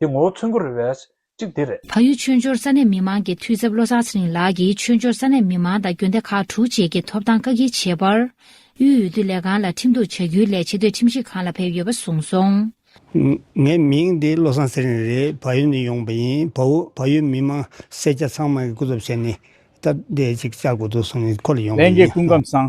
དེ་ངོ་བོ་མཚོན་དགོས་རེད་བས། གཅིག་དེ་རེད། ཕ་ཡུལ་ཆོས་འབྱོར་ས་གནས་མི་མང་གི་འཐུས་ཚབ་བློ་བཟང་ཚེ་རིང་ལགས་ཀྱིས་ཆོས་འབྱོར་ས་གནས་མི་མང་དང་རྒྱུན་ལས་ཁག་དྲུག་བཅས་ཀྱི་ཐོབ་ཐང་བཀག་སྐྱིལ་བྱས་པར། དབུས་འོས་བསྡུ་ལས་ཁང་ལ་ཁྲིམས་གཏུག་བྱ་རྒྱུའི་ལས་བྱེད་དོད་ཁྲིམས་ཞིབ་ཁང་ལ་ཕེབས་ཡོད་པ་གསུངས་སོང། ངའི་མིང་འདི་བློ་བཟང་ཚེ་རིང་རེད་ཕ་ཡུལ་ནས་ཡོང་བ་ཡིན་ཕ་བོ་ཕ་ཡུལ་མི་མང་སེར་སྐྱ་ཚང་མ་གི་སྐུ་ཚབ་བྱས་ནས་སྟབས་བདེ་ཅིག་བཅའ་དགོས་འདུག་གསུངས་ནས་ཁོ་ལ་ཡོང་བ་ལན་རྒྱལ་ཡིན། སྐུ་མགམ་བཟང།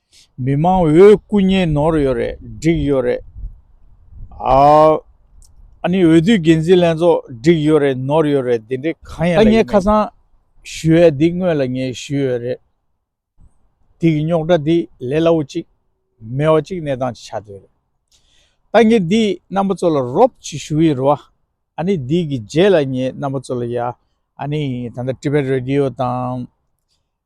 མི་དམངས་འོས་སྐུ་བརྙན་ནོར་ཡོད་རེད་འགྲིག་ཡོད་རེད་ཨཱ། ཨཱ་ནི་འོས་བསྡུའི་འགན་འཛིན་ལྷན་ཚོགས་འགྲིག་ཡོད་རེད་ནོར་ཡོད་རེད་དེ་འདྲའི་གང་ཡང་ལས་ཀྱི་མེད། ཨཱ་ངས་ཁ་སང་ཞུས་ཡས་འདི་དངོས་ལ་ངས་ཞུས་ཡོད་རེད། འདི་གི་རྙོག་དྲ་འདི་ལས་སླ་བོ་ཅིག་མེད་བ་ཅིག་གནས་སྟངས་ཅིག་ཆགས་འདོད་རེད། ད་ངས་འདི་རྣམ་པ་ཚོ་ལ་རོབ་ཅིག་ཞུ་ཡི་རུ་ཨཱ་ནི་འདི་གི་རྗེས་ལ་ངས་རྣམ་པ་ཚོ་ལ་ཡ་ཨཱ་ནི་ད་ལྟ Tibet Radio དང།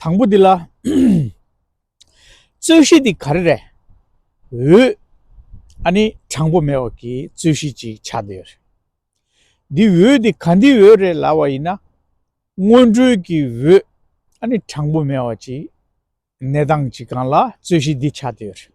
དང་པོ་འདི་ལ། རྩོད་གཞི་འདི་ག་རེ་རེད། འོད། ཨ་ནི་དྲང་པོ་མེད་བ་ཀྱི་རྩོད་གཞི་ཅིག་ཆགས་བསྡད་ཡོད་རེད། འདི་འོད་འདི་ག་འདི་འོད་རེད་ལབ་བ་ཡིན་ན། སྔོན་འགྲོའི་ཀྱི་འོད་ཨ་ནི་དྲང་པོ་མེད་བ་ཅིག་གནས་སྟངས་ཅིག་གང་ལ་རྩོད་གཞི་འདི་ཆགས་བསྡད་ཡོད་རེད།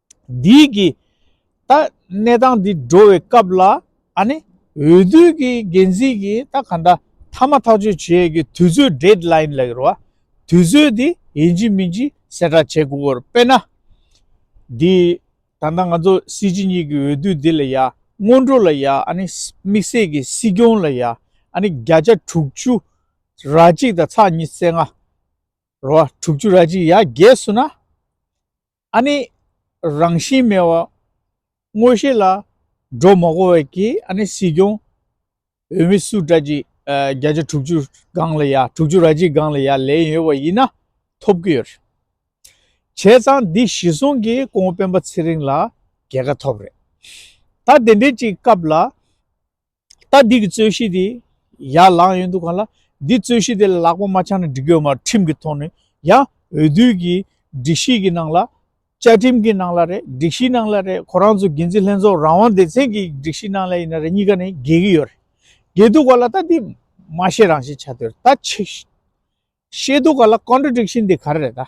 འདིའི་གིས། ད་གནས་སྟངས་འདི་འགྲོ་བའི་སྐབས་ལ། ཨ་ནི། འོས་བསྡུའི་གི་འགན་འཛིན་གི་ད་ག་འདྲ། ཐ་མ་ཐག་གཅོད་བྱེད་ཡས་གི་དུས་ཚོད Date Line ལ་ཡོར་བ། དུས་ཚོད་དེ་ཡིན་གྱི་མིན་གྱི་གསལ་བསྒྲགས་བྱེད་དགོས་བར་དཔེར་ན། འདི། ད་ལྟ་ང་ཚོ་སྲིད་སྤྱི་གཉིས་གི་འོས་བསྡུ་འདི་ལ་ཡ། སྔོན་འགྲོ་ལ་ཡ་ཨ་ནི། དམིགས་བསལ་གི་སྲིད་སྐྱོང་ལ་ཡ་ཨ་ནི་བརྒྱ་ཆ་དྲུག་ཅུ། ར་གཅིག་དང་ཚགས་གཉིས་བརྩེགས་ལྔ། ར་བ་དྲུག་ཅུ་ར་གཅིག་ཡ་བརྒྱད་སུ་ན། ཨ་ནི། རང་བཞིན་མེད་བ། དངོས་ཤེས་ལ། སྒྲོ་མ་བསྐུར་བས་ཀྱི་ཨ་ནི་སྲིད་སྐྱོང། འོས་མི་སུ་དགྲ་གཅིག་བརྒྱ་ཆ་དྲུག་ཅུ་སྒང་ལ་ཡ་དྲུག་ཅུ་ར་གཅིག་སྒང་ལ་ཡ་ལན་ཡོད་བ་ཡིན་ན་ཐོབ་ཀྱི་ཡོད་རེད། བྱས་ཙང་འདི་གཞི་བཟུང་གི་ཀོང་སྤེན་པ་ཚེ་རིང་ལ་རྒྱལ་ཁ་ཐོབ་རེད། ད་དེ་འདྲའི་གཅིག་སྐབས་ལ། ད་འདི་གི་རྩོད་གཞི་དེ་ཡར་ལངས་ཡོད་འདུག་ག་ལ། འདི་རྩོད་གཞི་དེ་ལ་ལག་པ་མ་འཆང་ན་འགྲིག་གི་མ་རེད་ཁྲིམས་ཀྱི་ཐོག་ནས་ཡང་འོས་བསྡུའི་གི་སྒྲིག་གཞི་གི་ནང་ལ། བཅའ་ཁྲིམས་གི་ནང་ལ་རེད་སྒྲིག་གཞིའི་ནང་ལ་རེད་ཁོ་རང་ཚོ་འགན་འཛིན་ལྷན་ཚོགས་རང་དབང་སྡེ་ཚན་གྱི་སྒྲིག་གཞིའི་ནང་ལ་ཡིན་ན་རེད་གཉིས་ཀ་ནས་འགལ་གྱི་ཡོད་རེད། འགལ་འདུག་ག་ལ་ད་འདི་མ་ཤེས་རང་ཤེས་བྱ་འདོད་རེད་ད་ཆེས་ཤེས་འདུག་ག་ལ Contradiction དེ་ག་རེ་རེད་ད།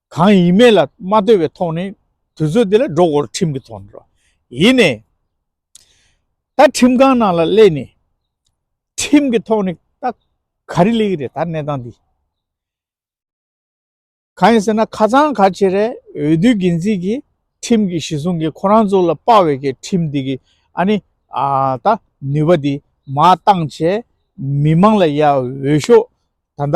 གང་ཡིན་མེད་ལ་མ་ལྟོས་པའི་ཐོག་ནས་དུས་ཚོད་དེ་ལ་སྒྲོ་སྐོར་ཁྲིམས་ཀྱི་ཐོག་ནས་རོགས་ཡིན་ནས། ད་ཁྲིམས་ཁང་ནང་ལ་སླེབས་ནས་ཁྲིམས་ཀྱི་ཐོག་ནས་ད་ག་རེ་ལེགས་རེད་ད་གནས་སྟངས་འདི། གང་ཡིན་ཟེར་ན་ཁ་ཚང་ག་ཆེ་རེད་འོས་བསྡུའི་འགན་འཛིན་གྱི་ཁྲིམས་ཀྱི་གཞི་བཟུང་གིས་ཁོ་རང་ཚོ་ལ་དཔའ་བའི་གི་ཁྲིམས་འདི་གི་ཨ་ནི་ད་ནུས་པ་འདི་མ་བཏང་བྱས་མི་མང་ལ་ཡ་འོས་ཤོག་ད་ད་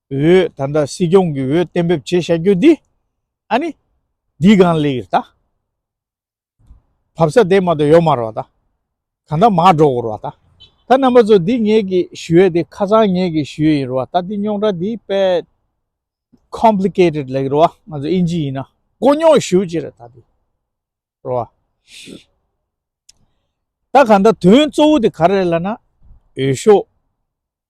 འོས་ད་ལྟ་སྲིད་སྐྱོང་གི་འོས་གཏན་འབེབས་བྱེད་བྱ་རྒྱུ་འདི་ཨ་ནི་འདི་གང་ལེགས་ད་བབས་ས་དེ་མ་ཏོ་ཡོ་མ་རོ་ད་གང་ད་མ་འགྲོ་གོ་རོ་ད་ད་རྣམ་པ་ཚོ་འདི་ངེད་ཀྱི་ཞུ་འོས་དེ་ཁ་ཚང་ངེད་ཀྱི་ཞུ་འོས་ཡིན་རོ་ད་འདི་རྙོག་དྲ་འདི་པད Complicated ལེགས་རོ་ང་ཚོ་ཨིན་ཇི་ཡིན་ན་དཀོན་རྙོག་ཞུ་ཅི་རེད་ད་འདི་རོ་ད་གང་ད་དོན་གཙོ་བོ་འདི་ག་རེད་ལ་ན་འོས་ཤོག་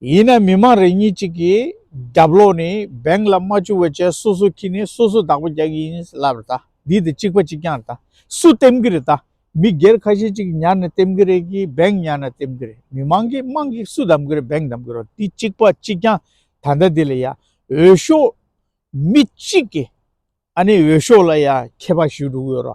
ཡིན་ནའི་མི་མང་རེ་གཉིས་གཅིག་གིས་རྒྱབ་ལོག་ནས Bank ལ་རྨ་ཆུ་བོད་ཅལ་སོ་སོ་ཁྱི་ནས་སོ་སོ་བདག་པོ་རྒྱག་གི་ཡིན་ལབ་རེད་ད་འདི་དེ་གཅིག་པ་གཅིག་རྐྱང་རེད་ད་སུ་བསྟེམ་གི་རེད་ད་མི་སྒེར་ཁ་ཤས་གཅིག་ཉར་ནས་བསྟེམ་གི་རེད་ཀྱི Bank ཉར་ན་བསྟེམ་གི་རེད་མི་མང་གིས་དམངས་ཀྱིས་སུ་བདམས་གི་རེད Bank བདམས་གི་རོ་འདི་གཅིག་པ་གཅིག་རྐྱང་ད་ལྟ་འདི་ལ་ཡང་འོས་ཤོག་མི་གཅིག་གིས་ཨ་ནི་འོས་ཤོག་ལ་ཡང་ཁྱད་པར་ཞུས་འགྲོ་གི་ཡོད་རོ།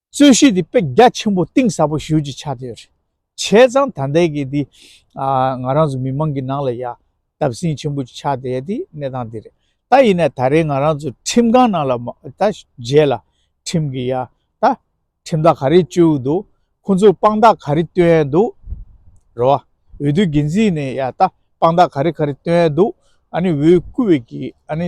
རྩོད་གཞི་འདི་དཔེ་རྒྱ་ཆེན་པོ་གཏིང་ཟབ་པོ་ཞིག་གི་ཆ་དེ་རེད། བྱས་ཙང་ད་ལྟའི་གི་འདི་ང་རང་ཚོ་མི་མང་གི་ནང་ལ་ཡ་སྟབས་ཟིན་ཆེན་པོ་ཅིག་ཆགས་བསྡད་དེ་གནས་སྟངས་འདི་རེད། ད་ཡིན་ན་ད་རེས་ང་རང་ཚོ་ཁྲིམས་ཁང་ནང་ལ་ད་མཇལ་ལ་ཁྲིམས་གི་ཡ་ད་ཁྲིམས་ཐག་ག་རེ་གཅོད་འདུག་ཁོང་ཚོས་དཔང་རྟགས་ག་རེ་བཏོན་འདུག་རེད་བ། འོས་བསྡུ་འགན་འཛིན་ནས་ཡ་ད་དཔང་རྟགས་ག་རེ་ག་རེ་བཏོན་འདུག་ཨ་ནི་འོས་བསྐུལ་བའི་གི་ཨ་ནི་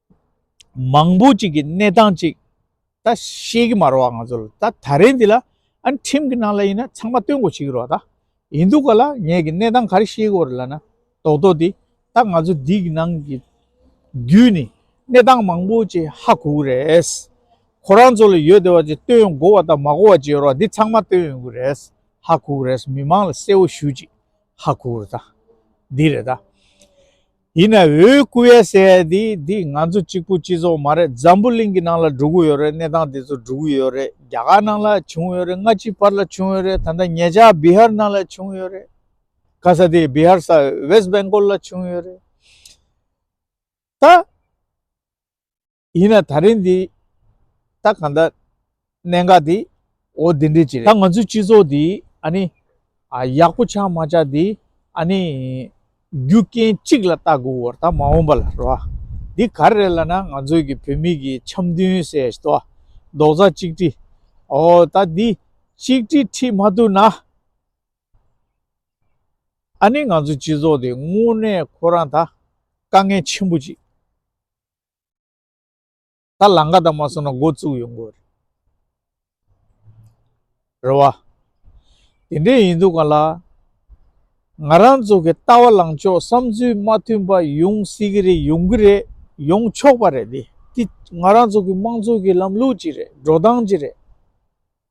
མང་པོ་ཅིག་གི་གནས་སྟངས་ཅིག་ད་ཤེས་ཀྱི་མ་རོ་བ་ང་ཚོ་ལ་ད་ད་རེས་འདི་ལ་ཨ་ནི་ཁྲིམས་ཀྱི་ནང་ལ་ཡིན་ན་ཚང་མ་བསྟུན་དགོས་བྱེད་ཀྱི་རོགས་ད་ཡིན་འདུག་ག་ལ་ངས་ཀྱི་གནས་སྟངས་ག་རེ་ཤེས་ཀྱི་རོ་ལ་ན་རྡོག་རྡོག་འདི་ད་ང་ཚོ་འདི་གི་ནང་གི་བརྒྱུད་ནས་གནས་སྟངས་མང་པོ་ཅིག་ཧ་གོ་གི་རེད། ཁོ་རང་ཚོ་ལ་ཡོད་དེ་བ་ཅིག་བསྟུན་ཡོང་དགོས་བ་ད་མ་གོ་བ་ཅིག་ཡོད་རོགས་འདི་ཚང་མ་བསྟུན་ཡོང་གི་རེད་ཧ་གོ་གི་རེད་མི་མང་ལ་གསལ་བོ་ཞུ་ཅིག་ཧ་གོ་གི་རེད་ད་འདི་རེད་ད། ཡིན་ན་འོས་སྐུ་བས་བསད་དེ་འདི་ང་ཚོ་གཅིག་པུ་སྤྱི་ཚོགས་མ་རེད་འཛམ་བུ་གླིང་གི་ནང་ལ་འགྲོ་གི་ཡོད་རེད་གནས་སྟངས་དེ་ཚོ་འགྲོ་གི་ཡོད་རེད་རྒྱ་གར་ནང་ལ་བྱུང་ཡོད་རེད་སྔ་ཕྱི་བར་ལ་བྱུང་ཡོད་རེད་ད་ལྟ་ངེད་ཅག་བི་ཧར་ནང་ལ་བྱུང་ཡོད་རེད་ག་ས་དེ་བི་ཧར་ས West Bengal ལ་བྱུང་ཡོད་རེད་ད། ཡིན་ན་ད་རིང་འདི་ད་གང་ལྟར་གནད་འགག་འདི་འོ་འདི་འདྲས་ཅིག་རེད་ད་ང་ཚོའི་སྤྱི་ཚོགས་འདི་ཨ་ནི་ཡག་པོ་ཆགས་མ་ཆགས་འདི་ཨ་ནི་རྒྱུ་རྐྱེན་གཅིག་ལ་བལྟ་དགོས་འོ་ད་མ་འོངས་པ་ལ་རེད་བ། འདི་ག་རེ་ལ་ན་ང་ཚོའི་གི་བོད་མི་གི་འཆམ་མཐུན་ཟེར་ཡས་ཏོ་རྡོག་རྩ་གཅིག་དྲིས་འོ་ད་འདི་གཅིག་དྲིས་ཁྲིས་མ་ཐུབ་ན་ཨ་ནི་ང་ཚོའི་སྤྱི་ཚོགས་འདི་དངོས་གནས་ཁོ་རང་ད་དཀའ་ངལ་ཆེན་པོ་ཅིག། ད་ལང་ཀ་དག་མ་སོང་ན་མགོ་བཙུགས་ཡོང་དགོས་རེད། རེད་བ། དེ་འདྲས་ཡིན་འདུག་ག་ལ། ང་རང་ཚོ་གི་ལྟ་བ་ལངས་ཕྱོགས་བསམ་ཚུལ་མ་མཐུན་པ་ཡོང་སྲིད་གི་རེད་ཡོང་གི་རེད་ཡོང་ཆོག་པ་རེད་དེ་ང་རང་ཚོ་གི་དམངས་གཙོ་གི་ལམ་ལུགས་ཅིག་རེད་འགྲོ་སྟངས་ཅིག་རེད།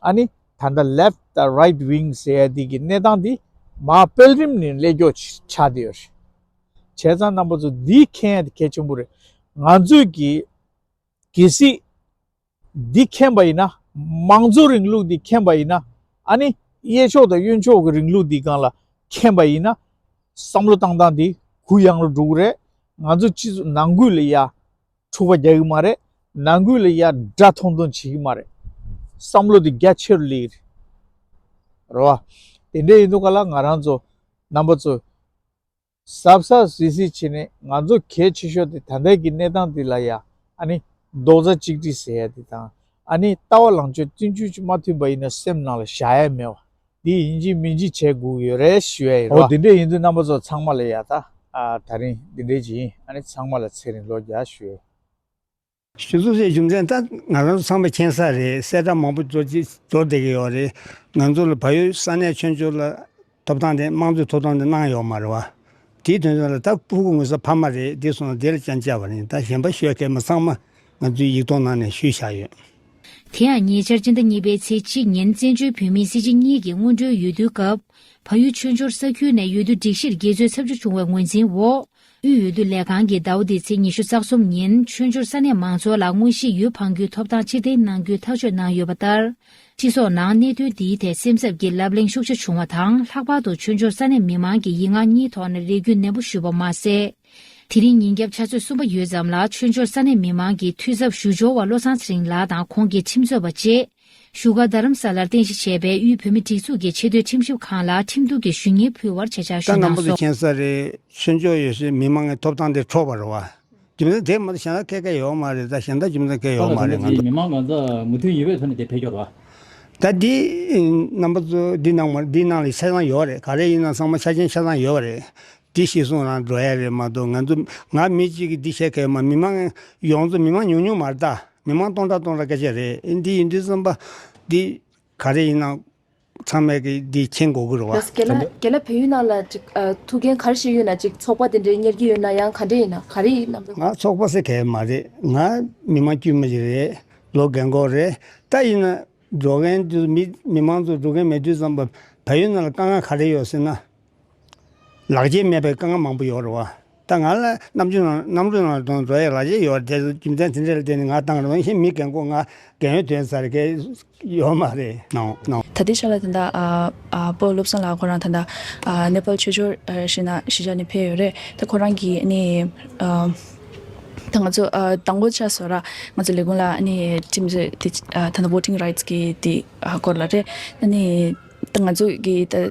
ཨ་ནི། ད་ལྟ Left དང Right Wing ཟེར་ཡ་དེ་གི་གནས་སྟངས་འདི་མ་སྤེལ་རིམ་ནས་སླད་འགྱོག་ཆགས་བསྡད་ཡོད་རེད། བྱས་ཙང་རྣམ་པ་ཚོ་འདི་མཁྱེན་ཡ་དེ་གལ་ཆེན་པོ་རེད། ང་ཚོས་ཀྱི་གལ་སྲིད་འདི་མཁྱེན་པ་ཡིན་ན། མང་གཙོ་རིང་ལུགས་འདི་མཁྱེན་པ་ཡིན་ན། ཨ་ནི། གཡས་ཕྱོགས་དང་གཡོན་ཕྱོགས་ཀྱི་རིང་ལུགས་འདི་གང་ལ་མཁྱེན་པ་ཡིན་ན། བསམ་བློ་བཏང་སྟངས་འདི་གུ་ཡངས་རུ་འགྲོ་གི་རེད། ང་ཚོ་སྤྱི་ཚོགས་ནང་ཁུལ་ལ་ཡ། འཁྲུག་པ་རྒྱག་གི་མ་རེད། ནང་ཁུལ་ལ་ཡར་འདྲ་ཐོང་ཐོང་བྱེད་ཀྱི་མ་རེད། བསམ་བློ་དེ་རྒྱ་ཆེ་རུ་སླེབས་ཀྱི་རེད། རེད་བ། དེ་འདྲས་ཡིན་དུས་ག་ལ་ང་རང་ཚོ་རྣམ་པ་ཚོས། ཟབ་ཟབ་ཟིལ་ཟིལ་བྱས་ནས་ང་ཚོ་གལ་ཆེ་ཤོས་དེ་ད་ལྟའི་གི་གནས་སྟངས་དེ་ལ་ཡང་ཨ་ནི་རྡོག་རྩ་གཅིག་སྒྲིལ་ཟེར་ཡ་དེ་དང་ཨ་ནི་ལྟ་བ་ལང་ཆོས་བསྟུན་ཅུས་ཅིག་མ་མཐུན་པ་ཡིན་ན་སེམས་ནང་ལ་བཞག་ཡ་མེད་བ། འདི་ཡིན་གཅིག་མིན་གཅིག་བྱས་སྒུག་ཡོད་རེད་ཞུ་ཡ་ཡིན། འོ་འདི་འདྲས་ཡིན་དུས་རྣམ་པ་ཚོ་ཚང་མ་ལ་ཡ་ད་ད་རིང་འདི་འདྲས་ཀྱི་ཡིན་ཨ་ནི་ཚང་མ་ལ་ཚེ་རིང་ལོ་བརྒྱ་ཞུ་ཡ། ཞུ་གཏུགས་སའི་རྒྱུ་མཚན་ད་ང་རང་ཚོ་ཚང་མ་མཁྱེན་ས་རེད་གསལ་བསྒྲགས་མང་པོ་འབྱོར་གྱི་འབྱོར་བསྡད་ཀྱི་ཡོད་རེད་ང་ཚོ་ལ་བལ་ཡུལ་ས་གནས་ཆོས་འབྱོར་ལ་ཐོབ་ཐང་དེ་དམངས་གཙོའི་ཐོབ་ཐང་དེ་གནང་ཡོད་མ་རེད་བ། དེའི་དོན་དོན་ལ་ད་སྤུ་གུ་ངོས་ས་ཕ་མ་རེད་འདི་སོང་ད་དེ་ལ་ཅང་དཔྱད་པ་རེད་ད་གཞན་པ་ཤོད་མཁན་མི་ཚང་མ་ང་ཚོའི་ཡིག་ཐོག་ནང་ནས་ཞུས་བཞག་ཡོད། དེ་ཡང་ཉེ་ཆར་སྤྱི་ཟླ་གཉིས་པའི་ཚེས་གཅིག་ཉིན་བཙན་བྱོལ་བོད་མིའི་སྲིད་སྤྱི་གཉིས་ཀྱི་སྔོན་འགྲོའི་ཡུལ་སྡོད་སྐབས། ཕ་ཡུལ་ཆོས་འབྱོར་ས་ཁུལ་ནས་ཡུལ་སྡོད་སྒྲིག་གཞིར་དགེ་གཙོས་ཚབ་འཇུག་བྱུང་བའི་ངོས་འཛིན་འོག་དབུས་འོས་བསྡུ་ལས་ཁང་གིས་ཟླ་བ་འདིའི་ཚེས་ཉི་ཤུ་རྩ་གསུམ་ཉིན་ཆོས་འབྱོར་ས་གནས་མང་ཚོགས་ལ་དངོས་གཞིའི་ཡུལ་འཕངས་རྒྱུའི་ཐོབ་ཐང་ཕྱིར་འཐེན་གནང་རྒྱུའི་ཐག་གཅོད་གནང་ཡོད་པ་ལྟར། སྤྱི་ཚོགས་ནང་གནད་དོན་འདིའི་ཐད་སེམས་འཚབ་ཀྱི་ལབ་གླེང་ཤུགས་ཆེ་བྱུང་བ་དང་ལྷག་པར་དུ་ཆོས་འབྱོར་ས་གནས་མི་མང་གིས་ཡིག་ངག་གཉིས་ཐོག་ནས་རེ་སྐུལ་ནན་པོ་ཞུས་པ་མ་ཟད། དེ་རིང་ཉིན་རྒྱབ་ཆ་ཚོད་གསུམ་པ་ཡོལ་ཙམ་ལ་ཆོས་འབྱོར་ས་གནས་མི་མང་གི་འཐུས་ཚབ་ཞུ་འབྱོར་བ་བློ་བཟང་ཚེ་རིང་ལགས་དང་ཁོང་གི་ཁྲིམས་རྩོད་པ་བཅས། བཞུགས་སྒར་རྡ་རམ་ས་ལར་རྟེན་གཞི་བྱས་པའི་དབུས་བོད་མི་སྒྲིག་འཛུགས་ཀྱི་ཆེས་མཐོའི་ཁྲིམས་ཞིབ་ཁང་ལ་ཁྲིམས་གཏུག་གི་ཞུ་སྙན་ཕུལ་བར་བྱེད་ཕྱག་ཞུ་གནང་སོང། ཀྲང་ནམ་པོ་ཚེ་མཁྱེན་ས་རེད། ཆོས་འབྱོར་ཡོད་སའི་མི་མང་གི་ཐོབ་ཐང་དེ་འཕྲོག་པ་རེད་བ། རྒྱུ་མཚན་དེ་མ་གཏོགས་གཞན་དག་སྐད་ཀ་ཡོད་མ་རེད་ད་གཞན་དག་རྒྱུ་མཚན་སྐད་ཡོད་མ་རེད་ང། མི་མང་ང་ཚོ་མུ་མཐུད་ཡུལ་བས་ཚོ་ནས་དེ་འཕེལ་འགྱོར་བ། ད་འདི་ནམ་པོ་ཚོ་འདི་ནང་མ་རེད་འདི་ནང་ལ་ཆ་ཚང་ཡོད་བ་རེད་ག་རེ་ཡིན་ན་ཚང་མ་ཆ་ཆེན་ཆ་ཚང་ཡོད་བ་རེད། འདི་ཤེས་གསུང་རང་འགྲོ་ཡ་རེད་མ་གཏོགས་ང་ཚོ་ང་མི་གཅིག་གིས་འདི་བཤད་མཁས་མ་མི་མང་ཡོངས་རྫོགས་མི་མང་ཉུང་ཉུང་མ་རེད་ད་མི་མང་སྟོང་ཕྲག་སྟོང་ཕྲག་སྐད་ཆ་རེད་འདི་ཡིན་འདི་བརྩམས་པ་འདི་ག་རེ་ཡིན་ནམ་ཚང་མས་ཀྱི་འདི་མཁྱེན་དགོས་ཀྱི་རེད་བ། ག་ལ་ག་ལ་བོད་ཡུལ་ནང་ལ་ཅིག་ཐུགས་འགན་ག་རེ་བཞེས་ཡོད་ན་ཅིག་ཚོགས་པ་དེ་འདྲའི་གཉེར་གྱི་ཡོད་ན་ཡང་ག་འདྲ་ཡིན་ན་ག་རེ་ཡིན་ནམ། ང་ཚོགས་པ་ཟེར་མཁས་མ་རེད་ང་མི་མང་དཀྱུས་མ་ཞིག་རེད་ལོ་འགན་འཁོར་རེད་ད་ཡིན་ན་འགྲོ་མཁན་དུ་མི་མི་མང་ཚོ་འགྲོ་མཁན་མེད་དུས་བརྩམས་པ་བལ་ཡུལ་ནང་ལ་དཀའ་ངལ་ག་རེ་ཡོད་ཟེར་ན། ལག་རྗེས་མེད་པའི་དཀའ་ངལ་མང་པོ་ཡོད་རེད་བ། ད་ང་ལ་རྣམ་དཔྱོད་རྣམ་དང་རྡོ་ཡི་ལག་རྗེས་ཡོད་དེ་རྒྱུ་མཚན་དེ་འདྲས་ལ་བརྟེན་ནས་ང་བཏང་རུང་ཧིན་མི་རྒན་གོ་ང་རྒན་ཡོད་དོན་ཚར་གི་ཡོད་མ་རེད། ད་ལྟའི་ཆ་ལ་ད། པོ་བློ་བཟང་ལགས་ཁོ་རང་ད། ནེ་པལ་ཆོས་འབྱོར་ཞིག་ན་ཞི་བྱ་ནས་ཕེབས་ཡོད་རེད་ད་ཁོ་རང་གིས་ནི། ད་ང་ཚོ་ད་མགོ་ཆ་བཟོ་ར་ང་ཚོ་ལས་ཁུངས་ལ་ནི་ཁྲིམས་རྩོད་དེ་ད་ན་བོ་ཏིང་ར་ཡིད་ཀྱི་དེ་སྐོར་ལ་རེད། ད་ནི་ད་ང་ཚོ་གི་ད།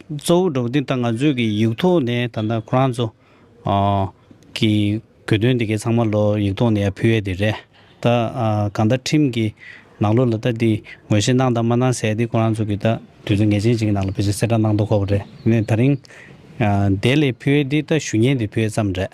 གཙོ་བོ་འགྲོ་གི་འདི་ལྟ་ང་ཚོས་ཀྱི་ཡིག་ཐོག་ནས་ད་ལྟ་ཁོ་རང་ཚོ་ཀྱི་གོ་དོན་འདི་གའི་ཚང་མ་ལོ་ཡིག་ཐོག་ནས་ཕུལ་ཡས་དེ་རེད་ད། གང་ལྟར་ཁྲིམས་ཀྱི་ནང་ལོགས་ལ་ད་འདི་ངོས་བཞེས་གནང་དང་མ་གནང་ཟེར་འདི་ཁོ་རང་ཚོ་ཀྱི་ད་དུས་ཚོད་ངེས་ཅན་ཞིག་གི་ནང་ལ་ཕུལ་ཟེར་གསལ་བསྒྲགས་གནང་དོ་ཁོ་པ་རེད་ནས་ད་རིང་དེ་ལས་ཕུལ་ཡས་འདི་ད་ཞུ་སྙན་དེ་ཕུལ་ཡས་ཙམ་རེད།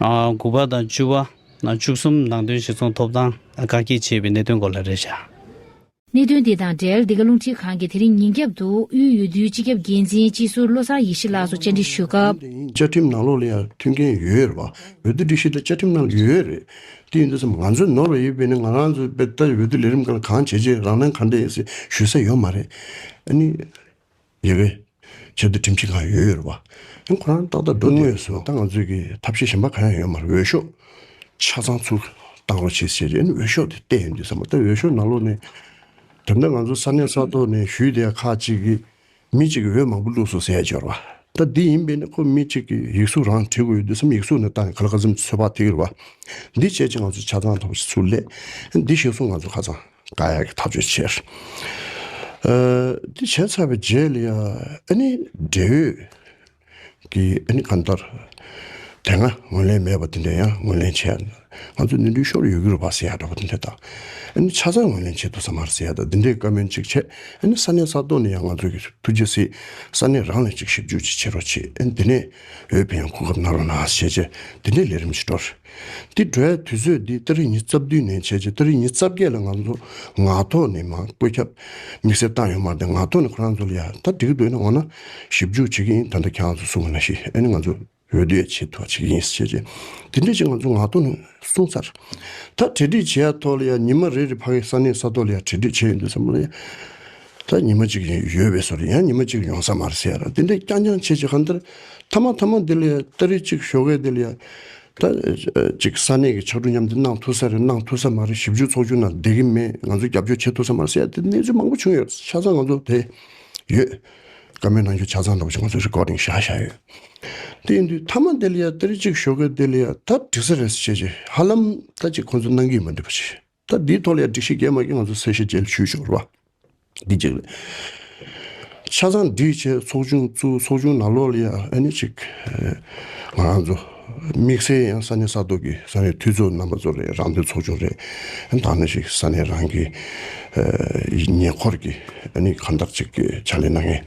དགུ་པ་དང་བཅུ་བ། བཅུ་གསུམ་ནང་དོན་གཞིར་བཟུང་ཐོབ་ཐང་བཀག་བསྐྱིལ་བྱས་པའི་གནད་དོན་སྐོར་ལ་རེ་བྱ། གནད་དོན་དེ་དང་འབྲེལ་འདི་ག་རླུང་འཕྲིན་ཁང་གིས་དེ་རིང་ཉིན་རྒྱབ་ཏུ་དབུས་ཡུལ་དུའི་སྤྱི་ཁྱབ་འགན་འཛིན་སྤྱི་ཟུར་བློ་བཟང་ཡེ་ཤེས་ལགས་སུ་བཅར་འདྲི་ཞུས་སྐབས། བཅའ་ཁྲིམས་ནང་ལོགས་ལ་ཡང་མཐུན་རྐྱེན་ཡོད་རེད་བ། འོས་བསྡུ་སྒྲིག་གཞི་དེ་བཅའ་ཁྲིམས་ནང་ལ་ཡོད་རེད། དེ་ཡིན་དུས་སམ་ང་ཚོས་ནོར་བ་ཡོད་པས་ནི་ང་རང་ཚོས་དཔེ་ལྟར་འོས་བསྡུ་ལས་རིམ་གང་ལ་གང་བྱས་རྗེས་རང་སྣང་གང་འདྲ་ཡིན་ཟེར་ཞུས་ས་ཡོད་མ་རེད། ཉེ་བའི་ཆར་དུ་ཁྲིམས་ཆད་གང་ཡོད་ཡོད་རེད་བ། ཡང་ཁོ་རང་ཏག་ཏག་འགྲོ་དགོས་ངོས་སུ་ད་ང་ཚོས་ཀྱི་ཐབས་ཤེས་གཞན་པ་གང་ཡང་ཡོད་མར་འོས་ཤོག་ཆ་ཚང་ཚུར་བཏང་རོགས་བྱེད་ཟེར་རེད་འོས་ཤོག་དེ་བལྟས་ཡོང་དུས་བསམ་པ་ད་འོས་ཤོག་ནང་ལོགས་ནས་དེབ་ན་ང་ཚོ་ས་གནས་ས་ཐོག་ནས་ཞུས་དེ་ཁག་ཅིག་གིས་མི་གཅིག་གིས་འོས་མང་པོ་བླུགས་སོང་ཟེར་ཡ་འབྱོར་བ་ད་འདི་ཡིན་པས་ན་ཁོ་མི་གཅིག་གིས་ཡིག་གཟུགས་རང་བྲི་དགོས་ཡོད་དུས་སམ་ཡིག་གཟུགས་ནས་བཏང་ནས་ག་ལ་ག་ཚོད་མི་ཚོད་ཕག་ཐིག་རེད་བ། འདི་བྱས་རྗེས་ང་ཚོ་ཆ་ཚང་ཐོབ་ཆུ་ལེགས་འདི་ཤེས་སོང་ང་ཚོ་ཁ་ཚང། བཀའ་ཡག་གི་ཐག་གཅོད་བྱས། དེ་བྱས་ཚར་བའི་རྗེས་ལ་ཡང་ཨ་ནི་འབྲེལ་ཡོད་ཀྱི་ཨ་ནི་གང་ལྟར་དེ་སྔ་ངོས་ལེན་མེད་པ་དེ་འདྲས་ཡང་ངོས་ལེན་བྱས། ང་ཚོ་ནི་འགྲུལ་ཤོར་ཡོད་ཀྱི་རུ་བ་ཟེར་ཡག་འདྲ་བོ་དེ་འདྲས་དང་ཨ་ནི་ཆ་ཚང་ངོས་ལེན་བྱེད་ཐུབ་ས་མར་ཟེར་ཡག་དང་དེ་འདྲས་བཀའ་མོལ་ཅིག་བྱས་ཨ་ནི་ས་གནས་ས་ཐོག་ནས་ཡང་ང་ཚོ་གིས་ཐུགས་རྗེ་གཟིགས་ས་གནས་རང་ལ་ཅིག་ཞིབ་འཇུག་ཅིག་བྱེད་རོགས་བྱས་ཨ་ནི་དེ་ནས་འོས་འཕེན་ཡང་གོ་སྐབས་གནང་རོགས་གནང་ཞེས་བྱས་དེ་འདྲས་ལས་རིམ་ཅིག་འགྲོ། དེ་འདྲའི་དུས་ཚོད་འདི་སྟ་རེ་གཉིས་རྩ་བདུན་ནས་བྱས་རྗེས་སྟ་རེ་གཉིས་རྩ་བརྒྱད་ལ་ང་ཚོ་ངག་ཐོག་ནས་མང་བཀོད་ཁྱབ་དམིགས་བསལ་བཏང་ཡོད་མ་རེད་ངག་ཐོག་ནས་ཁོ་རང་ཚོ་ལ་ཡང་ད་འགྲིག་འདུག་ཡིན་ན་འོ་ན་ཞིབ་འཇུག་བྱེད་ཀྱི་ཡིན་ད་ལྟ་ཁྱེད་རང་ཚོ་གསུང་བ་ན་ཞིག་ཨེ་ནི་ང་ཚོ་འོས་བསྡུ་ཡ་བྱེད་ཐུབ་བ་བྱེད་ཀྱི་ཡིན་ཟེར་བྱས་རྗེས་དེ་འདྲ་ཅིག་ང་ཚོ་ངག་ཐོག་ནས་གསུང་ཚར་ད་གྲལ་སྒྲིག་བྱེད་ཡ་ཐོག་ལ་ཡ་ཉི་མ་རེ་རེ་ཕ་གའི་ས་གནས་ས་ཐོག་ལ་ཡ་གྲལ་སྒྲིག་བྱས་ཡོད་འདུག་ས་མ་ལ་ཡ། ད་ཉི་མ་གཅིག་ཡོལ་བས་སོར་ཡང་ཉི་མ་གཅིག་ཡོང་ས་མ་རེད་ཟེར་དེ་འདྲས་རྐྱང་རྐྱང་བྱེད་བྱེད་ག་འདིར་ཐ་མ་ཐ་མ་འདི་ལས་སྟ་རེ་གཅིག་ཤོ་གས་འདི་ལས་ད་ཅིག་ས་གནས་ཀྱི་ཕྱག་གྲུ་མཉམ་འདི་གནང་ཐུབ་ས་རེད་གནང་ཐུབ་ས་མ་རེད་ཞིབ་འཇུག་ཚོགས་ཆུང་ནང་བསྡད་ཀྱི་མེད་ང་ཚོ་རྒྱབ་སྐྱོར་བྱེད་ཐུབ་ས་མ་རེད་ཟེར་དེ་གནས་ཚུལ་མང་པོ་བྱུང་ཡོད་ཆ་ཚང་ང་ཚོ་དེ་ཡོད། བཀའ་མོལ་གནང་རྒྱུ་ཆ་ཚང་དང་པོ་ཆུང་ང་ཚོ་རེཀོར་ཏིང་བཞག་བཞག་ཡོད། དེ་ཡིན་དུས་ཐ་མ་འདི་ལས་སྟ་རེ་གཅིག་ཤོ་གས་འདི་ལས་ད་འགྲིག་ས་རེད་ཟེར་བྱེད་བྱེད་ཧ་ལམ་ད་ཅིག་ཁོང་ཚོ་གནང་གི་ཡོད་མ་འགྲིག་པ་བྱེད་བྱེད། ད་འདིའི་ཐོག་ལས་སྒྲིག་བཤིག་རྒྱལ་མ་གིས་ང་ཚོ་གསལ་བཤད་བྱས་ཞུས་ཆོག་རེད་པ། འདི་གཅིག་རེད། ཆ་ཚང་འདིའི་ཆེད་ཚོགས་ཆུང་བཙུགས་ཚོགས་ཆུང་ནང་ལོགས་ལ་ཡང་ཨ་ནི་ཅིག། ང་རང་ཚོ། དམིགས་བསལ་ཡང་ས་གནས་ས་ཐོག་གི་ས་གནས་འཐུས་ཚོགས་རྣམ་པ་ཚོ་རེད་རང་འདོད་ཚོགས་ཆུང་རེད། ད་ཨ་ནི་ཅིག་ས་གནས་རང་གི། ཉེ་འཁོར་གྱི་ཨ་ནི་གང་ལྟར་ཅིག་ཆ་ལས་གནང་ངེས།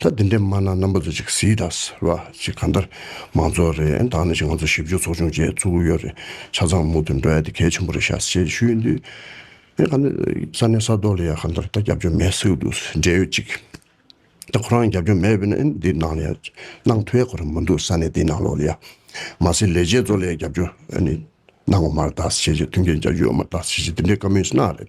ད་འདི་འདྲས་སྨྲ་ན་རྣམ་པ་ཚོ་ཅིག་གཟིགས་དང་ཟེར་བ་ཅིག་གང་ལྟར་མང་ཚོགས་རེ་འདང་ནས་ཅིག་ང་ཚོ་ཞིབ་འཇུག་ཚོགས་ཆུང་བཅས་བཙུགས་གི་ཡོད་རེད་ཆ་ཚང་མུ་མཐུད་འགྲོ་ཡ་དེ་གལ་ཆེན་པོ་རེད་ཤག་ཅེས་ཞུས་འདུག་ངས་གང་ལྟར་ས་གནས་ས་ཐོག་ལ་ཡང་གང་ལྟར་ད་རྒྱབ་སྐྱོར་མེད་ཟེར་འདུག་འབྲེལ་ཡོད་ཅིག་ད་ཁོ་རང་རྒྱབ་སྐྱོར་མེད་བས་ན་འདི་ནང་ལ་ཡང་གནང་ཐུ་ཡ་གོ་རེ་མ་འདུག་ས་གནས་དེའི་ནང་ལོགས་ལ་ཡང་མ་ཟད་ལས་བྱེད་ཚོ་ལ་ཡང་རྒྱབ་སྐྱོར་གནང་འོ་མ་རེད་ད་ཟེར་ཅེས་མཐུན་རྐྱེན་རྒྱག་རྒྱུ་འོ་མ་རེད་ད་ཟེར་ཅེས་འདི་འདྲས་བཀའ་མོལ་ཟེར་ན་རེད།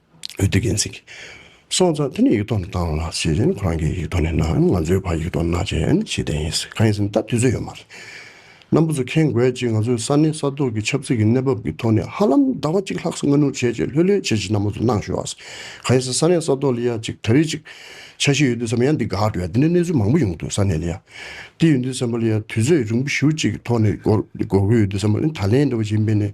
འོས་བསྡུ་འགན་འཛིན་གྱིས་སོང་ཙང་དེ་ནས་ཡིག་ཐོག་ནས་བཏང་ལ་ཟེར་བཞིན་ཁོ་རང་གིས་ཡིག་ཐོག་ནས་གནང་ང་ཚོའི་བར་ཡིག་ཐོག་གནང་བྱས་ཡོད་ན་ཇི་བདེན་ཡིན་ཟེར་གང་ཡིན་ཟེར་ན་ད་དུས་ཚོད་ཡོད་མ་རེད། སྣམ་བུ་ཚོ་མཁྱེན་དགོས་ཅིག་ང་ཚོའི་ས་གནས་ས་ཐོག་གི་ཆབ་སྲིད་ཀྱི་གནས་བབ་ཀྱི་ཐོག་ནས་ཧ་ལམ་ཟླ་བ་གཅིག་ལྷག་སྔ་ནུར་བྱས་རྗེས་ལྷོད་ལྷོད་བྱེད་ཅིག་སྣམ་བུ་ཚོ་གནང་ཞོར་ཟེར་གང་ཡིན་ཟེར་ས་གནས་ས་ཐོག་ལ་ཡ་གཅིག་ད་རེས་ཅིག་ཆ་ཤས་ཡོད་དུས་སམ་ཡ་འདི་དགའ་འགྲོ་ཡ་འདི་ནས་གནས་ཚུལ་མང་པོ་ཡོང་དུས་ས་གནས་ལ་ཡ་འདི་ཡོད་འདུག་སེམས་པ་ལ་ཡ་དུས་ཚོད་རིང་པོ་ཞུ་ཅིག་ཐོག་ནས་སྒོར་གྱི་ཡོད་དུས་སམ་ད་ལན་འདྲ་བ་བྱིན་སྤེལ་ནས།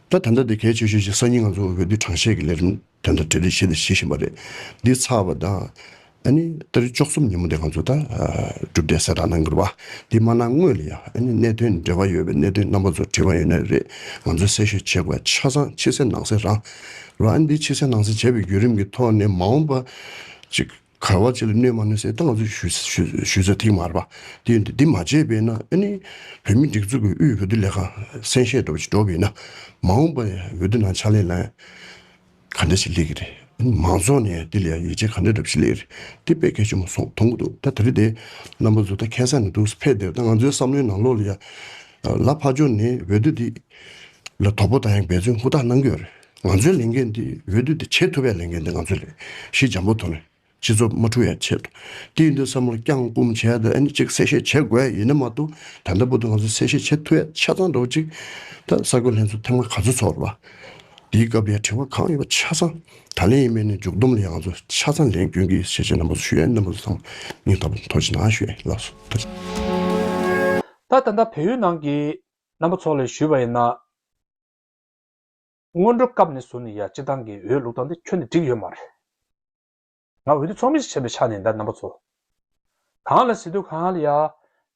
ད་ད་འདྲ་དེ་གལ་ཆེ་ཤོས་ཤིག་སང་ཉིན་ང་ཚོ་འོས་བསྡུའི་གྲངས་བཤེར་གྱི་ལས་རིམ་དོན་དང་འབྲེལ་ཏེ་བྱེད་དང་བྱེད་བཞིན་པ་རེད། འདི་ཚར་བ་དང། ཨ་ནི་ད་རེས་བཅུ་གསུམ་ཉིན་མོ་དེ་ང་ཚོ་ད་གྲུབ་འབྲས་གསལ་བསྒྲགས་གནང་དགོས་རེད་བ། དེ་མ་གནང་སྔོན་ལ་ཡང་ཨ་ནི་གནད་དོན་འབྲེལ་བ་ཡོད་པའི་གནད་དོན་རྣམ་པ་ཚོ་དྲིས་པ་ཡོད་ན་རེད། ང་ཚོས་གསལ་ཤོས་བྱེད་དགོས་པ་ཆ་ཚང་ཕྱི་གསལ་ནང་གསལ་རང་རེད་བ། ཨ་ནི་དེ་ཕྱི་གསལ་ནང་གསལ་བྱས་པའི་བརྒྱུད་རིམ་གྱི་ཐོག་ནས་མ་འོངས་པ་ཅིག། གར་བ་བཅས་ལ་གནོད་མ་གནོད་གསལ་བཏང་ཚུལ་ཞུས་ཚེ་ཐེངས་མར་བ་དེས་འདི་མ་བྱས་པས་ན་ཨ་ནི། བོད་མི་སྒྲིག་འཛུགས་ཀྱི་དབུས་འོས་བསྡུ་ལས་ཁང་གསན་བཞེས་འགྲོ་བྱེད་འགྲོ་བས་ན། མ་འོངས་པར་འོས་བསྡུ་ནང་ཕྱག་ལས་ལ་ག་འདྲ་བྱེད་ལེགས་ཀྱི་རེད། མང་ཚོགས་ནས་དེ་ལས་ཡིད་ཆེས་ག་འདྲ་འདྲ་བྱེད་ལེགས་རེད་དེ་དཔེ་གལ་ཆེན་མོ་སོང་མཐོང་གི་འདུག་ད་དེ་རིང་དེ་རྣམ་པ་བཟོ་ད་ཁེ་སང་ནས་འདུག་ཕེབས་བསྡད་ད་ང་ཚོའི་བསམ་བློའི་ནང་ལོག་ལ་ཡ། ལ་ཕ་ཇོ་ནས་འོས་བསྡུ་འདི་ལ་དོ་པོ་ད་ཡང་འབད་བརྩོན་ཧུར་ཐག་གནང་གི་ཡོད་རེད། ང་ཚོའི་ལས་འགན་འདི་འོས་བསྡུ་དེ་བྱེད་ཐུབ་པའི་ལས་འགན་འདི་ང་ཚོའི་ལས་གཞི་འཇམ་པོ་ཐོག་ནས་སྤྱི་ཚོགས་མ་འཁྲུག་ཡ་ཆེད་དུ་དེའི་འདི་བསམ་བློ་བསྐྱང་བསྐུམ་བྱས་ཏེ་ཨ་ནི་གཅིག་གསལ་བཤད་བྱེད་དགོས་ཡིན་ནི་མ་གཏོགས་ད་ལྟ་བུ་དུ་ང་ཚོ་གསལ་བཤད་བྱེད་ཐུབ་ཡ་ཆ་ཚང་འགྲོ་གཅིག་ད་ས་བགོས་ལྷན་ཚོགས་ཐེངས་མ་ག་ཚོད་ཚོགས་རེད་པ། དེའི་སྐབས་ཡ་དྲི་བ་གང་ཡོད་པ་ཆ་ཚང་ད་ལན་ཡིན་མིན་ནི་འཇུག་སྡོམ་ལ་ཡ་ང་ཚོ་ཆ་ཚང་ལན་བསྐྱོན་གི་ཞེས་བྱས་ན་མ་གཟུ་ཞུ་ཡ་ནི་མ་གཟུ་ཚང་སྙིང་ཐག་པ་འཐོར་ཅི་ན་ཞུ་ཡ་ཡིན་ལབ་སོ་ད་ལན། ད་ད་ལྟ་བོད་ཡུལ་ནང་གི་རྣམ་པ་ཚོ་ལ་ཞུས་པ་ཡིན་ན། སྔོན་འགྲོ་སྐབས་ནས་བཟུང་ནས་ཡང་སྤྱི་བཏང་གི་འོས་བླུག་སྟངས་འདི་ཁྱོན་ནས་འགྲིག་ཡོད་མ་རེད། ང་འོས་བསྡུ་ཚོགས་མི་ཞིག་བྱས་པའི་ཆ་ནས་འདའ་རྣམ་པ་ཚོ། གང་ལ་སི་ཏུ་གང་ལ་ཡ།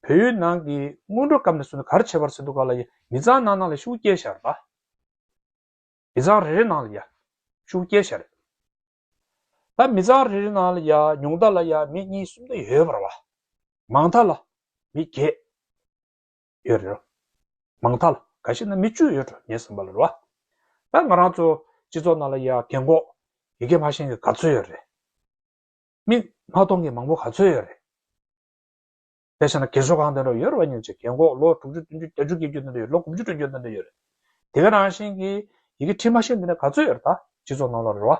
བོད་ཡུལ་ནང་གི་སྔོན་འགྲོ་སྐབས་ནས་བཟུང་ནས་གར་བྱས་པར་སི་ཏུ་ག་ལ་ཡ་མི་ཚང་ནང་ནང་ལ་ཤུགས་བསྐྱལ་བཞག་རེད། མི་ཚང་རེ་རེ་ནང་ལ་ཡ། ཤུགས་བསྐྱལ་བཞག་རེད། ད་མི་ཚང་རེ་རེ་ནང་ལ་ཡ་ཉུང་མཐའ་ལ་ཡ་མི་གཉིས་གསུམ་དུ་ཡོད་པར་བ། མང་མཐའ་ལ། མི་བརྒྱད། ཡོད་རེད། མང་ཐ་ལ་ག་ཤེད་ན་མི་བཅུ་ཡོད་འགྲོ་ངས་བསམ་པ་ལ་རོ། ད་ང་རང་ཚོ་སྤྱི་ཚོགས་ནང་ལ་ཡ་གེ་འགོག་ཡི་གེ་མ་ཤེས་མཁན་ག་ཚོད་ཡོད་རེད། མི་མ་གཏོང་མཁན་མང་པོ་ག་ཚོད་ཡོད་རེད། དེ་ཤེས་ན་གེ་སོ་གང་དེ་འགྲོ་ཡོད་རེད་བ་ཉོན་ཅིག་གེ་འགོག་ལོ་དྲུག་ཅུ་བདུན་ཅུ་བརྒྱ་ཅུ་བརྒྱད་ཅུ་དེ་འགྲོ་ཡོད་ལོ་དགུ་བཅུ་དྲུག་ཅུ་དེ་འགྲོ་ཡོད་རེད། དེ་ག་རང་བཞིན་གྱི་ཡི་གེ་ཁྲིད་མ་ཤེས་མཁན་ག་ཚོད་ཡོད་རེད་ད་སྤྱི་ཚོགས་ནང་ལ་རེད་བ།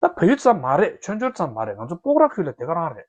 ད་བོད་ཡུལ་ཙམ་མ་རེད་ཆོས་འབྱོར་ཙམ་མ་རེད་ང་ཚོ་སྤོག་ར་ཁུལ་ལ་དེ་ག་རང་རེད།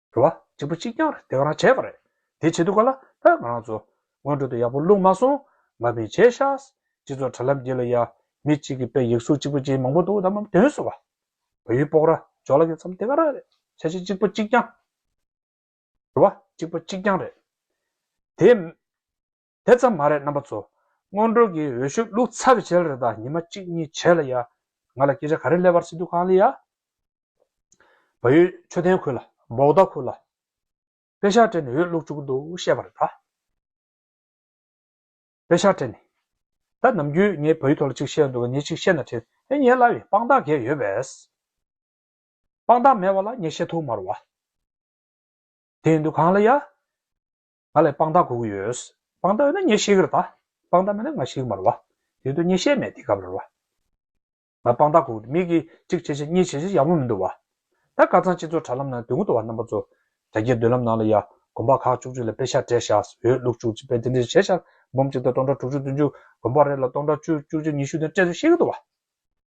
རེད། རེ་བ་གཅིག་པུ་གཅིག་རྐྱང་རེད་དེ་ག་རང་བྱས་པ་རེད། དེ་བྱེད་དུས་ག་ལ་ཕོད་ང་རང་ཚོ། སྔོན་འགྲོ་དུ་ཡག་པོ་བླུགས་མ་སོང། མ་ཕན་བྱས་ཤག། སྤྱི་ཚོགས་དྲ་ལམ་བརྒྱུད་ལ་ཡ། མི་གཅིག་གི་དཔེ་ཡིག་སུག་གཅིག་པུ་ཅན་མང་པོ་འདུག་ད་མམ་དོན་སུ་བ། བ་ཡུལ་སྤོག་ར་འཇོག་ལ་གི་མཚམས་དེ་ག་རང་རེད། བྱས་བྱས་གཅིག་པུ་གཅིག་རྐྱང། རེ་བ་གཅིག་པུ་གཅིག་རྐྱང་རེད། དེ། དེ་ཙམ་མ་རེད་རྣམ་པ་ཚོ། སྔོན་འགྲོ་གི་འོས་ཤོག་བླུག་ཚར་བྱས་ལ་རེ་ད་ཉི་མ་གཅིག་གཉིས་བྱས་ལ་ཡ། ང་ལ་སྐད་ཆ་ག་རེ་སླེབས་བར་སེ་འདུག་གང་ལེ་ཡ། བ་ཡོད་མཆོད་རྟེན་ཁུར་ལ་འབོག་རྟ་ཁུར་ལ། དཔེ་ཤག་སྤྲད་ནས་འོས་བླུག་བཅུག་གི་འདུག་བཤད་པ་རེ་ད། དཔེ་ཤག་སྤྲད་ནས། ད་ནམ་རྒྱུན་ངས་བ་ཡོད་ཐོག་ལ་ཅིག་བཤད་འདུག་ག་ངས་ཅིག་བཤད་ན་ཁྲེལ་ཨེ་ཉེ་སླ་བའི་དཔང་རྟགས་འགས་ཡོད་པས། དཔང་རྟགས་མེད་བ་ལ་ངས་བཤད་ཐུག་མ་རུ་བ། དེ་ཡིན་འདུག་གང་ལེ་ཡ། ང་ལས་དཔང་རྟགས་གུག་ཡོད། དཔང་རྟགས་ཡོད་ན་ངས་ཤེས་ཀྱི་རེད་ད། དཔང་རྟགས་མེད་ན་ང་ཤེས་ཀྱི་མ་རེད་བ། དེ་དུས་ངས་ཤེས་མེད་དེ་ག་བ་རེད་བ། ང་དཔང་རྟགས་གུག་མེད་ཀྱི་གཅིག་བྱས་ཆ་གཉིས་བྱས་ཆ་ཡག་པོ་མི་འདུག་བ། ད་དཀར་གཙང་སྤྱི་ཚོགས་དྲ་ལམ་ནང་དུས་འགོ་དོ་བ་རྣམ་པ་ཚོ། རྒྱ་སྐྱེད་མདུན་ལམ་ནང་ལ་ཡ་དགོན་པ་ཁག་བཅུ་གཅིག་ལ་དཔེ་ཤག་སྤྲད་བཞག་ཟིག་འོས་བླུགས་བཅུག་ཅིག་དཔེ་དེ་འདྲ་ཞིག་བྱས་བཞག་འབུམ་གཅིག་དང་སྟོང་ཕྲག་དྲུག་ཅུ་བདུན་ཅུ་དགོན་པ་རེ་ལ་སྟོང་ཕྲག་བཅུ་བཅུ་གཅིག་ཉི་ཤུ་དེ་སྤྲད་ཟིག་ཤེས་ཀྱི་འདུག་བ།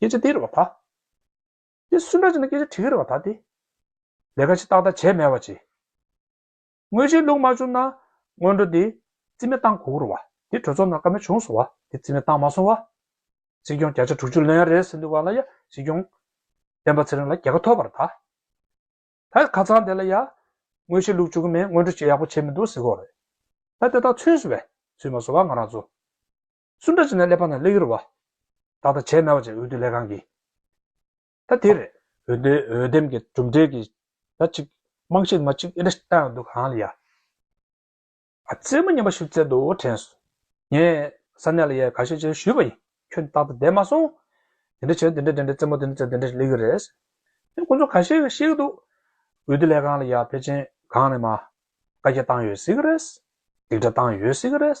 སྐད་ཆ་འདི་རེད་བ་ད། དེ་སུན་ཏྲ་ཅན་ན་སྐད་ཆ་དྲིས་རེད་བ་ད་དེ། ལས་ཀ་ཤི་ཏག་ཏག་བྱས་མེད་བ་ཅི། དངུལ་ཆད་བླུག་མ་བྱུང་ན་སྔོན་འགྲོ་དེ་རྩིས་མེད་བཏང་གོ་རུ་བ་དེ་གྲོས་ཚོགས་ནང་ཀ་མེད་བྱུང་སོང་བ་དེ་རྩིས་མེད་བཏང་མ་སོང་བ། སྲིད་སྐྱོང་བརྒྱ་ཆ་དྲུག་ཅུ་ལོན་རེད་ཟེར་འདུག་བ་ལ་ཡ་སྲིད་སྐྱོང། བསྟན་པ་ཚེ་རིང་ལ་རྒྱལ་ཁ་ཐོབ་པར་ད། ད་ཁ་ཚང་དེ་ལ་ཡ། དངུལ་ཆད་བླུག་བཅུག་གི་མེད་སྔོན་འགྲོ་བྱེད་ཡག་པོ་བྱས་མི་འདུག་ཟེར་གོ་རེད། ད་དེ་དག་ཚུན་སུ་བས་ཚུན་མ་སོང་བ་ང་རང་ཚོ། སུ་འདྲ་བྱས་ན་ཀླད་པ་རྣམས་ཀླད་ཡུར་བ། དག་དང་བྱད་མེད་བ་ཅན་འོད་དུ་ལས་གང་གིས། ད་དེ་རེད། འོད་དེ་འོད་ལྡེམ་གྱི་གྲུབ་འབྲས་ཀྱིས། ད་ཅིག། རྨང་གཞིར་མ་ཅིག་ཨེ་འདྲ་ལྟ་ཡང་འདུག་གང་ལ་ཡ། ཨ་ཙེ་མོ་སྙམ་པ་ཞིག་བཙལ་འདུག་དྲན་སོང། ངས་ས་གནས་ལ་ཡལ་ག་ཤས་ཅན་ཞུས་པ་ཡིན། ཁྱོད་རྟག་ཏུ་བསྡད་མ་སོང། དེ་འདྲ་བྱས་ན་དེ་འདྲ་དེ་འདྲ་རྩེད་མོ་དེ་འདྲ་བཙལ་དེ་འདྲ་ཞིག་ལས་གི་རེད། ཁྱོད་ཁོ་ཚོ་ག་ཤེད་ག་ཤེད་གི་འདུག། འོད་དུ་ལས་གང་ལ་ཡ་ཕལ་ཆེན་གང་ནས་མ། བཀའ་རྒྱ་བཏང་ཡོད་སྲིད་གི་རེད། སྡིག་སྒྲ་བཏང་ཡོད་སྲིད་གི་རེད།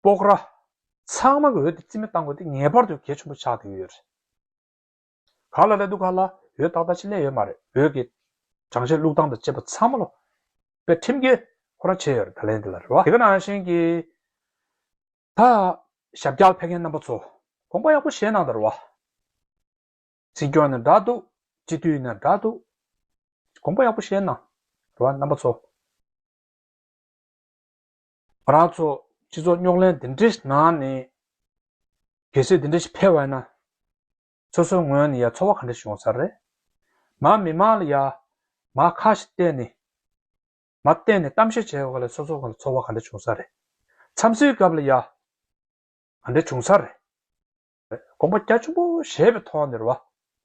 སྤོག་ར། ཚང་མ་གི་འོད་དེ་རྩིས་མེད་བཏང་དགོས་ཏེ་ངེས་པར་དུ་གལ་ཆེན་པོ་ཆགས་ཀྱི་ཡོད། ག་ལ་ལས་འདུག་ག་ལ་ཡོད་ད་ལྟ་ཕྱི་ལས་ཡོད་མ་རེད་འོད་ཀྱི་དྲང་བཞེས་བླུག་སྟངས་དང་བཅས་པ་ཚང་མ་ལོ་པའི་ཁྲིམས་འགལ་ཁོ་ར་བྱས་ཡོད་ད་ལན་འདི་ལ་རེ་བ། དེ་ག་ནང་བཞིན་གྱི་ད། ཞབས་རྒྱག་ཕེབས་མཁན་རྣམ་པ་ཚོ་དགོངས་པ་ཡག་པོ་བཞེས་གནང་ད་རེ་བ། སྲིད་སྐྱོང་ནས་འདྲ་འདུག་སྤྱི་འཐུས་ནས་འདྲ་འདུག་དགོངས་པ་ཡག་པོ་བཞེས་གནང་རེ་བ་རྣམ་པ་ཚོ། ང་རང་ཚོ་སྤྱི་ཚོགས་རྙོག་གླེང་འདི་འདྲའི་ནང་ནས། གལ་སྲིད་འདི་འདྲ་ཞིག་འཕེལ་བ་ཡིན་ན། སོ་སོའི་ངོས་ནས་ཡང་ཚོར་བ་ག་འདྲ་ཞིག་ཡོང་ས་རེད། མ་མི་མང་ལ་ཡང་མ་ཁ་ཞིག་གཏད་ནས། མ་བསྟན་ནས་གཏམ་བཤད་བྱས་བ་ལས་སོ་སོ་ང་ལ་ཚོར་བ་ག་འདྲ་བྱུང་ས་རེད། འཚམས་གཟིགས་སྐབས་ལ་ཡང་ག་འདྲ་བྱུང་ས་རེད། དགོངས་པ་རྒྱ་ཆེན་པོ་བཞེས་པའི་ཐོག་ནས་ར་བ་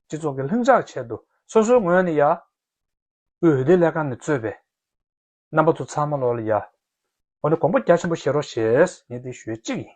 སྤྱི་ཚོགས་ཀྱི་ལྷིང་འཇགས་ཆེད་དུ་སོ་སོའི་ངོས་ནས་ཡང། དབུས་འོས་བསྡུ་ལས་ཁང་ནས་གཙོས་པའི། རྣམ་པ་ཚོ་ཚང་མ་ལོག་ལ་ཡ། འོ་ན་གོང་པོ་རྒྱ་ཆེན་པོ་བཤད་རོགས་ཞེས་ངས་འདི་ཞུས་གཅིག་ཡིན།